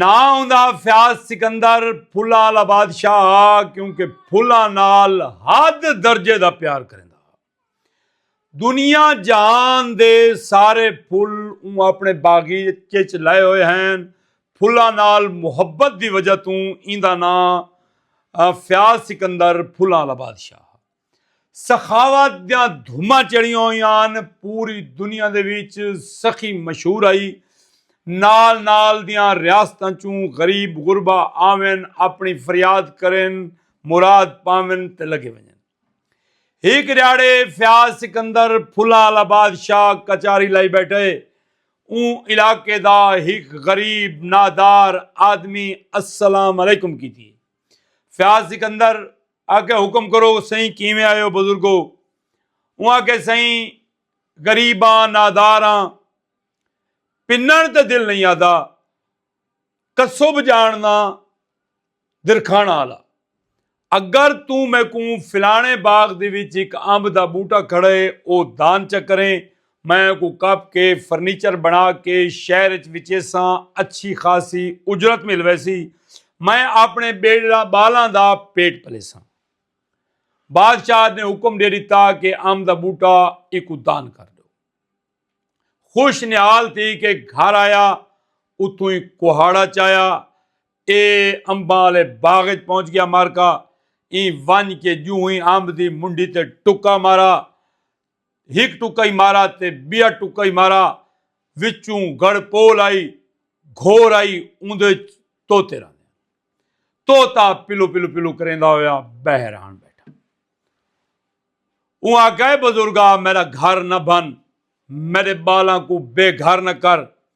ناں اوندا فیاض سکندر پھلاں آلا بادشاہ ہا کیونکہ پھلاں نال حد درجے دا پیار کریندا ہا۔ دنیا جہان دے سارے پھل اوں اپݨے باغیچے اچ لائے ہوئے ہن۔ پھلاں نال محبت دی وجہ توں ایندا ناں فیاض سکندر پھلاں آلا بادشاہ ہا۔ سخاوت دیاں دھماں چڑھیاں ہویاں ہن پوری دنیا دے وچ سخی مشہور ہئی نال نال دیاں ریاستاں چوں غریب غربا آون اپنی فریاد کرن مراد پاون تے لگے ونجن ہک ریاڑے فیاض سکندر پھلاں آلا بادشاہ کچاری لائی بیٹھے اوں علاقے دا ہک غریب نادار آدمی السلام علیکم کیتی فیاض سکندر آکھیا حکم کرو سئیں کیویں آئے ہو بزرگو اوں آکھے سئیں غریباں ناداراں پنن تے دل نہیں آدا کسب جاننا درکھانا والا اگر تو میکوں فلانے باغ دی وچ ایک امب دا بوٹا کھڑے او دان چکریں میں اونکوں کپ کے فرنیچر بنا کے شہر اچ وچیساں اچھی خاصی اجرت مل ویسی میں اپنے بیڑڑا بالاں دا پیٹ پلیساں بادشاہ نے حکم دے دیتا کہ ام دا بوٹا ایکو دان کر دو خوش نیال تھی کہ گھر آیا اتوں ہی کوہاڑا چایا اے امباں والے باغ اچ پہنچ گیا مارکا این ون کے جو ہی امب دی منڈی تے ٹکا مارا ہک ٹکئی مارا تے بیا ٹکئی مارا وچوں گڑ پول آئی گھور آئی اوندے توتے رہنے توتا پلو پلو پلو کریندا ہویا بہر آن بیٹھا اون آکھے بزرگا میرا گھر نہ بن میرے بالاں کو بے گھر نہ کر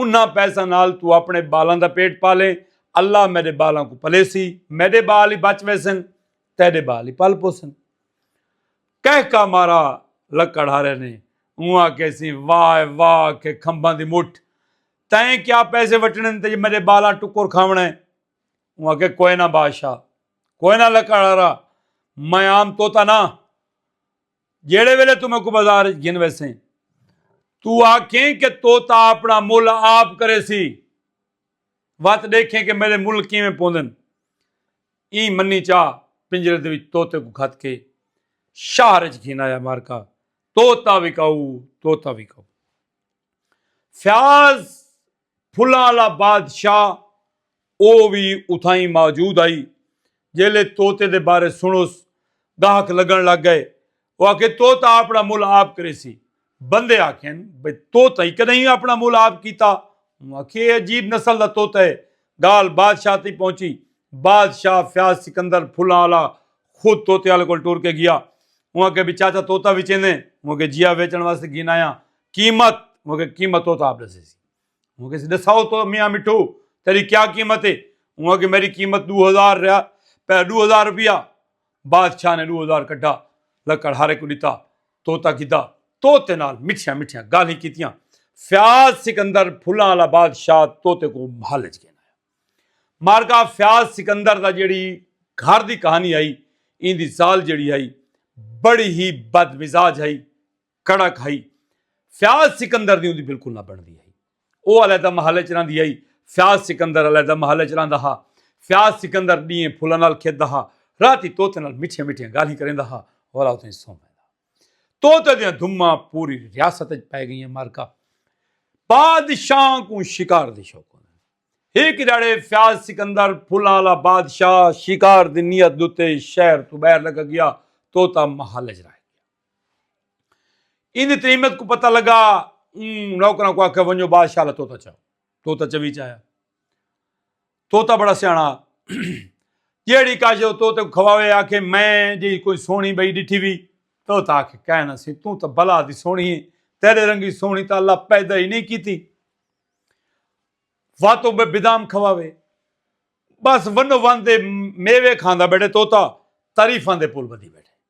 انہاں پیساں نال توں اپݨے ٻالاں دا پیٹ پالیں، اللہ میݙے ٻالاں کوں پلیسی، میݙے ٻال ای بچ ویسن، تیݙے ٻال ای پل پوسن۔ کہکا مارا لکڑ ہارے نے، اوں آکھیسیں واہ واہ کے کھمباں دی مٹھ، تئیں کیا پیسے وٹݨے نے تے میݙے ٻالاں ٹکر کھاوݨا ہے۔ اوں آکھے کوئنہ بادشاہ، کوئنہ لکڑ ہارا، میں عام طوطا نہ، جیڑھے ویلے تو میکوں بازار وچ گھن ویسیں تو آکھیں کہ طوطا اپنا مل آپ کریسی وت ڈیکھیں کہ میڈے مل کیویں پوندن ایں منی چا پنجرے دے وچ طوطے کوں کھت کے شہر وچ گھن آیا مارکا طوطا وکاؤ طوطا وکاؤ فیاض پھلاں آلا بادشاہ او وی اتھائیں موجود ہئی۔ جیلھے طوطے دے بارے سنڑس گاہک لگنڑ لگ گئے۔ او آکھے طوطا اپنڑا مول آپ کریسی۔ بندے آکھن بھئی طوطا ای کڈہیں اپنڑا مول آپ کیتا۔ اوں آکھیے اے عجیب نسل دا طوطا ہے۔ گالھ بادشاہ تئیں پہنچی۔ بادشاہ فیاض سکندر پھلاں آلا خود طوطے آلے کول ٹر کے گیا۔ اوں آکھیا بھئی چاچا طوطا وچیندیں؟ اوں آکھیا جی ہا ویچنڑ واسطے گھن آیاں۔ قیمت مونکہ قیمت ہوتا آپ دسے سی مونکہ سی دساؤ تو میاں مٹھو تیری کیا قیمت ہے وہاں کہ میری قیمت دو ہزار رہا پہ دو ہزار روپیہ بادشاہ نے دو ہزار کٹھا لکڑ ہارے کو دیتا توتا کیتا توتے نال مٹھیاں مٹھیاں گالیں کیتیاں فیاض سکندر پھلاں والا بادشاہ توتے کو محل چ گیا مارکا فیاض سکندر دا جیڑی گھر دی کہانی آئی ان دی زال جیڑی آئی بڑی ہی بد مزاج آئی کڑک ہئی فیاض سکندر دی اوندی بالکل نہ بنڑدی ہئی او علیحدہ محل وچ رہندی ہئی فیاض سکندر علیحدہ محل وچ رہندا ہا فیاض سکندر ڈینہہ پھلاں نال کھیڈدا ہا راتی طوطے نال مٹھیاں مٹھیاں گالھیں کریندا ہا اور اوتھے سو ویندا طوطے دیاں دھماں پوری ریاست وچ پے گئیاں مارکا بادشاہ کو شکار دی شوق ایک جڑے فیاض سکندر پھلا والا بادشاہ شکار دی نیت دوتے شہر تو باہر لگا گیا توتا محل جرائے ان دی تریمت کو پتہ لگا اون نوکراں کو آکھیا ونجو بادشاہ لا توتا چاہو توتا چوی چاہیا توتا بڑا سیانا جیڑی کاجو توتے کو کھواوے آکھے میں جی کوئی سونی بئی ڈٹھی بھی توتا آکھے کہنا سی تو تا بلا دی سونی ہے تیرے رنگی سونی تا اللہ پیدا ہی نہیں کیتی واتو بے بدام کھواوے بس ونو وان دے میوے کھاندا بیٹھے توتا تاریفاں دے پول بدی بیٹھے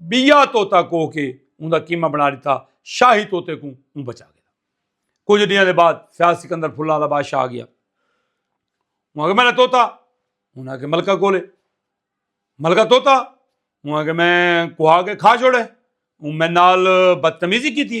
بیا توتا کوہ کے اوں دا قیمہ بنا ڈتا شاہی توتے کوں اوں بچا گھدا کچھ ڈیاں دے بعد فیاض سکندر پھلاں دا بادشاہ آ گیا اوں اگے میرا توتا اوں اگے ملکہ کولے ملکہ توتا اوں اگے میں کوہا کے کھا چھوڑے اوں میں نال بدتمیزی کیتی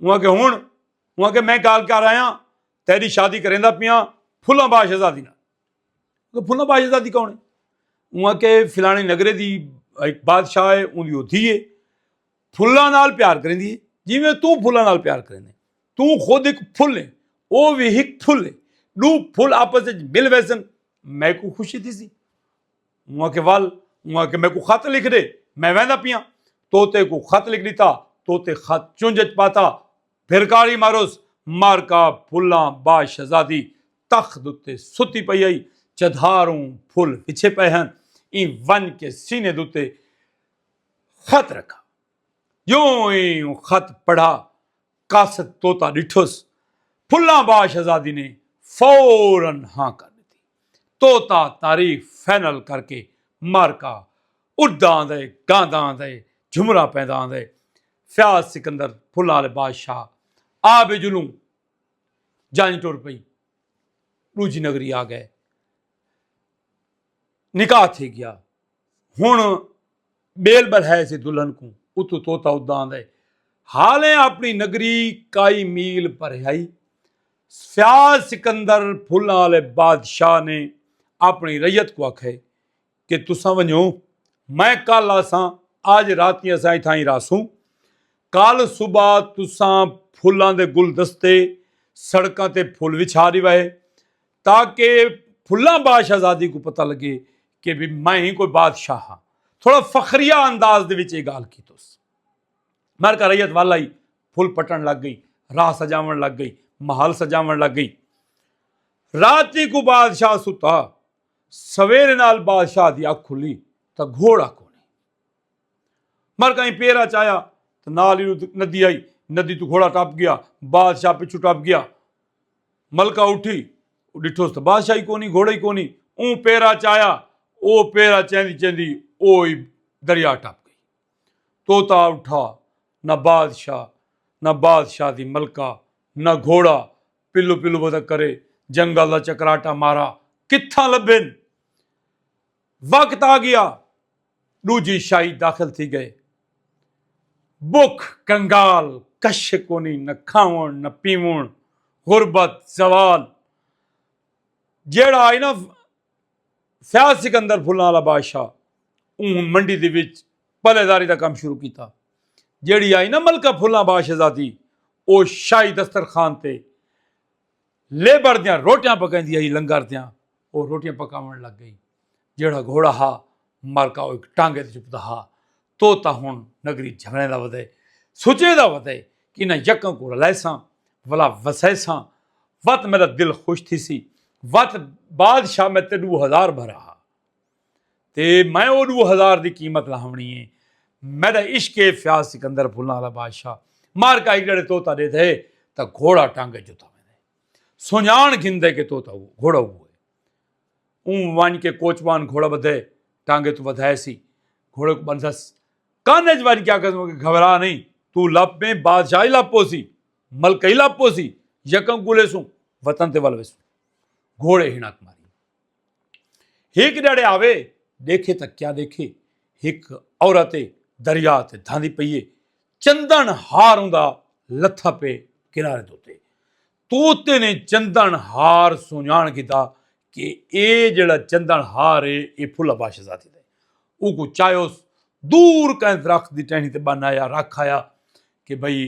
انہوں آکھیا ہن انہوں آکھیا میں گال کر آیا ہاں تیری شادی کریندا پیاں پھلاں با شہزادی نال پھلاں با شہزادی کون ہے انہوں آکھیا فلانے نگرے دی ایک بادشاہ ہے اون دی او دھی ہے پھلاں نال پیار کریندی ہے جویں تو پھلاں نال پیار کریندے تو خود ایک پھل ہے او وی ہک پھل ہے دو پھل آپس وچ مل ویسن میں کو خوشی تھی سی اوں آکھے ول اوں آکھے میکوں خط لکھ دے میں ویندا پیاں توتے کو خط لکھ دیتا توتے خط چونج اچ پاتا پھر کالی ماروس مارکا پھلاں با شہزادی تخت دوتے ستی پئی آئی چدھاروں پھل وچھے پئے ہن ای ونج کے سینے دوتے خط رکھا یوں ہی خط پڑھا قاصد طوطا ڈٹھس پھلاں با شہزادی نے فورا ہاں کر ڈتی۔ طوطا تعریف فائنل کر کے معرکہ اڈدا آندے گاندا آندے جھمرا پیندا آندے فیاض سکندر پھلاں آلے بادشاہ آ بجلوں جنج ٹر پئی ڈوجھی نگری آ گئے۔ نکاح تھی گیا ہن بیل بلہائے سی دلہن کو اتو توتا ادا آندے حالیں اپنی نگری کائی میل پرہائی سیال سکندر پھلاں والے بادشاہ نے اپنی ریت کو آکھے کہ تساں ونجو میں کل آساں آج رات ہی آساں اتھاں ہی راسوں کل صبح تساں پھلاں دے گلدستے سڑکاں تے پھل وچھا دیوائے تاکہ پھلاں با شہزادی کو پتہ لگے کہ بھی میں ہی کوئی بادشاہ ہاں تھوڑا فخریہ انداز دے وچے گال کی توس مر کا رئیت والا ہی پھل پٹن لگ گئی راہ سجاون لگ گئی محل سجاون لگ گئی رات ہی کو بادشاہ ستا سویر نال بادشاہ دی اکھ کھلی تا گھوڑا کو نہیں مر کا ہی پیرا چایا تا نال ہی ندی آئی ندی تو گھوڑا ٹاپ گیا بادشاہ پچھو ٹاپ گیا ملکہ اٹھی ڈٹھوس تھا بادشاہ ہی کونی گھوڑا ہی کونی اون پیرا چایا او پیرا چیندی چیندی او ہی دریا ٹپ گئی توتا اٹھا نہ بادشاہ نہ بادشاہ دی ملکہ نہ گھوڑا پلو پلو بدا کرے جنگل دا چکراٹا مارا کتھاں لبھن وقت آ گیا ڈوجی شاہی داخل تھی گئے بک کنگال کش کونی نہ کھاون نہ پیون غربت زوال جیڑا آئی نا فیاض سکندر پھلنا والا بادشاہ اون منڈی دے وچ پلے داری دا کام شروع کیتا جیڑی آئی نا ملکہ پھلنا بادشاہ زادی او شاہی دسترخوان تے لیبر دیاں روٹیاں پکیندی ہئی لنگر دیاں او روٹیاں پکاون لگ گئی جیڑھا گھوڑا ہا مر کا او ایک ٹانگے تے چپدا ہا تو تا ہن نگری جھریں دا ودے سچیں دا ودے کہ نہ یکاں کو رلیساں ولا وسیساں وت میرا دل خوش تھی سی وت بادشاہ میں تے دو ہزار بھرا ہا تے میں او ڈو ہزار دی قیمت لہونی اے میڈا عشق اے فیاض سکندر پھلاں آلا بادشاہ مار کا ہکڑے طوطا ڈیدھے تاں گھوڑا ٹنگ اچ جتا ویندے سنجان گھندے کہ طوطا گھوڑا اوہو اے اوں ونج کے کوچبان گھوڑا بدھے ٹانگے تو ودھائے سی گھوڑے کو بندھس کان اچ ونج کیا کہوں کہ گھبرا نہیں تو لپ میں بادشاہ ہی لپ پوسی ملک ہی لپ پوسی یکم گلے سوں وطن تے ول ویسوں گھوڑے ہنک ماری ہک جڑے آوے دیکھے تک کیا دیکھے ہک عورت دریا تے دھاندی پئیے چندن ہار ہوں لتھا پے کنارے دوتے توتے نے چندن ہار سونیان کیتا کہ اے جڑا چندن ہار ہے اے پھلا باش ذاتی دے او کو چاہے اس دور کہیں درخت دی ٹہنی تے بن آیا رکھ آیا کہ بھئی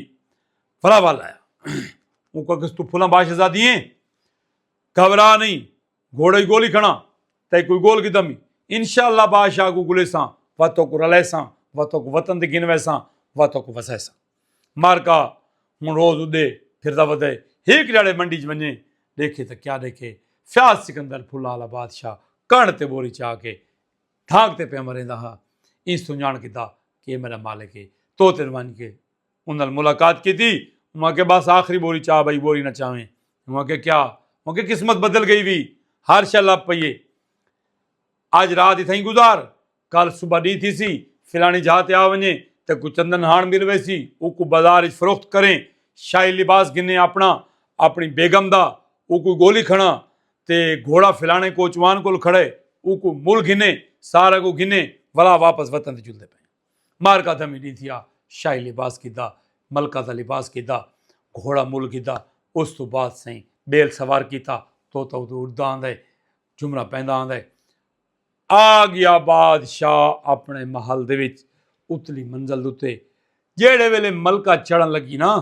پھلا والا آیا او کو کس تو پھلا باش ذاتی ہیں گھبرا نئیں گھوڑے کوں گولی کھڑاں تئیں کوئی گول کیتا میں انشاءاللہ بادشاہ کوں گلیساں و توک رلیساں و توک وطن تے گھن ویساں و توک وسیساں مارکا ہن روز اڈے پھردا ودے ہیک جاڑے منڈی چ ونجے ڈیکھے تاں کیا ڈیکھے فیاض سکندر پھلا والا بادشاہ کڑ تے بوری چا کے دھاگ تے پہ مریندا ہا ایں سنجان کیتا کہ میرا مالک ہے تو تن ونج کے انہاں نال ملاقات کیتی۔ اوہاں آکھیا بس آخری بوری چاہ بھائی بوری نہ چاہویں۔ اوہاں آکھیا کیا؟ اوہاں آکھیا قسمت بدل گئی وی۔ ہر شے لبھ پئی ہے۔ اج رات اتھائیں گزار۔ کل صبح ڈینہہ تھیسی۔ فلانی جاہ تے آ ونجیں۔ تیکوں چندن ہاݨ مل ویسی۔ اوکوں بازار اچ فروخت کریں۔ شاہی لباس گھنیں اپݨا۔ اپݨی بیگم دا۔ اوکوں گولی کھڑاں۔ تے گھوڑا فلاݨے کوچوان کول کھڑا ہے۔ اوکوں مل گھنیں۔ سارا کوں گھنیں۔ ولا واپس وطن تے چلدے پئیں۔ مار کا دھمی نہیں تھیا شاہی لباس کیتا ملکہ دا لباس کیتا گھوڑا مل کیتا اس تو بعد سائیں بیل سوار کیتا تو تو تو اڑدا آندا ہے جمرہ پیندا آندا ہے آ گیا بادشاہ اپنے محل دے وچ اتلی منزل دوتے جیڑے ویلے ملکہ چڑھن لگی نا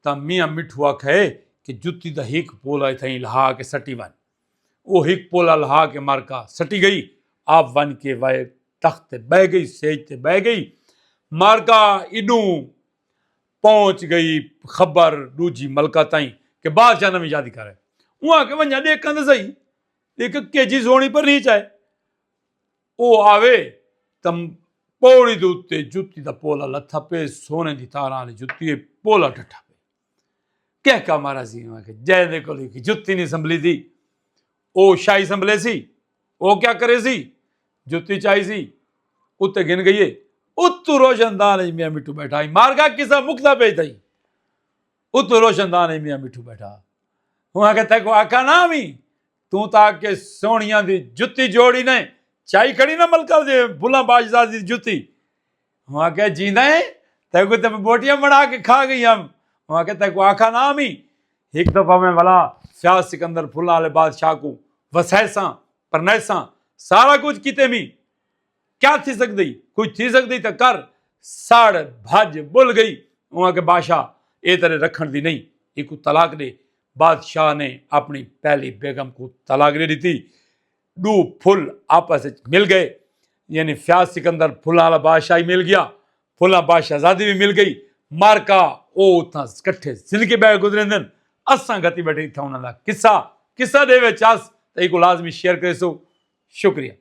تا میاں مٹھو آکھے کہ جتی دا ہک پولا تھیں لہا کے سٹی ون او ہک پل الہا کے مر کا سٹی گئی آپ ونج کے وئے تخت تے بہہ گئی سیج تے بہہ گئی مر کا ایڈوں پہنچ گئی خبر ڈوجھی ملکہ تائیں کہ بادشاہ نویں شادی کرے اوں آکے ونجا دیکھاں تے سہی دیکھ کے جی سونی پر نہیں چاہے او آوے تم پوڑی دے اتے جتی دا پولا لتھا پے سونے دی تاراں والی جتی پولا ڈٹھا کہہ کا مارا سی انہاں آکھیا جئے دے کول ہک جتی نہیں سنبھلی سی او شاہی سنبھلے سی او کیا کرے سی جتی چائی سی اتے گھن گئیے اتو روشن دان اچ میاں مٹھو بیٹھا ہی مار گا کسا مکدا پئی تھئی اتو روشن دان اچ میاں مٹھو بیٹھا ہوں آکھے تھے کو آکھا نہ وی توں تا کہ سونیاں دی جتی جوڑی نے چائی کھڑی نہ ملکہ دے بھلا باشزاد دی جتی ہوں آکھیا جیندا ہے تیکو تے بوٹیاں بنا کے کھا گئی ہم ہوں آکھیا تیکو آکھا نا ہم ہی ایک دفعہ میں ولا شاہ سکندر پھلا والے بادشاہ کو وسیساں پرنیساں سارا کچھ کیتے میں کیا تھی سکدی کوئی تھی سکدی تے کر ساڑ بھج بل گئی ہوں آکھیا بادشاہ اے تیرے رکھن دی نہیں ایکو طلاق دے بادشاہ نے اپنی پہلی بیگم کو طلاق دے دیتی ڈو پھل آپس اچ مل گئے یعنی فیاض سکندر پھلاں والا بادشاہ ہی مل گیا پھلاں بادشاہ زادی بھی مل گئی مارکا او اتھاں کٹھے زندگی بہ گزریندن اساں گھتی بیٹھے اتھاں انہاں دا قصہ قصہ دے وچ اس تے ایکو لازمی شیئر کریسو شکریہ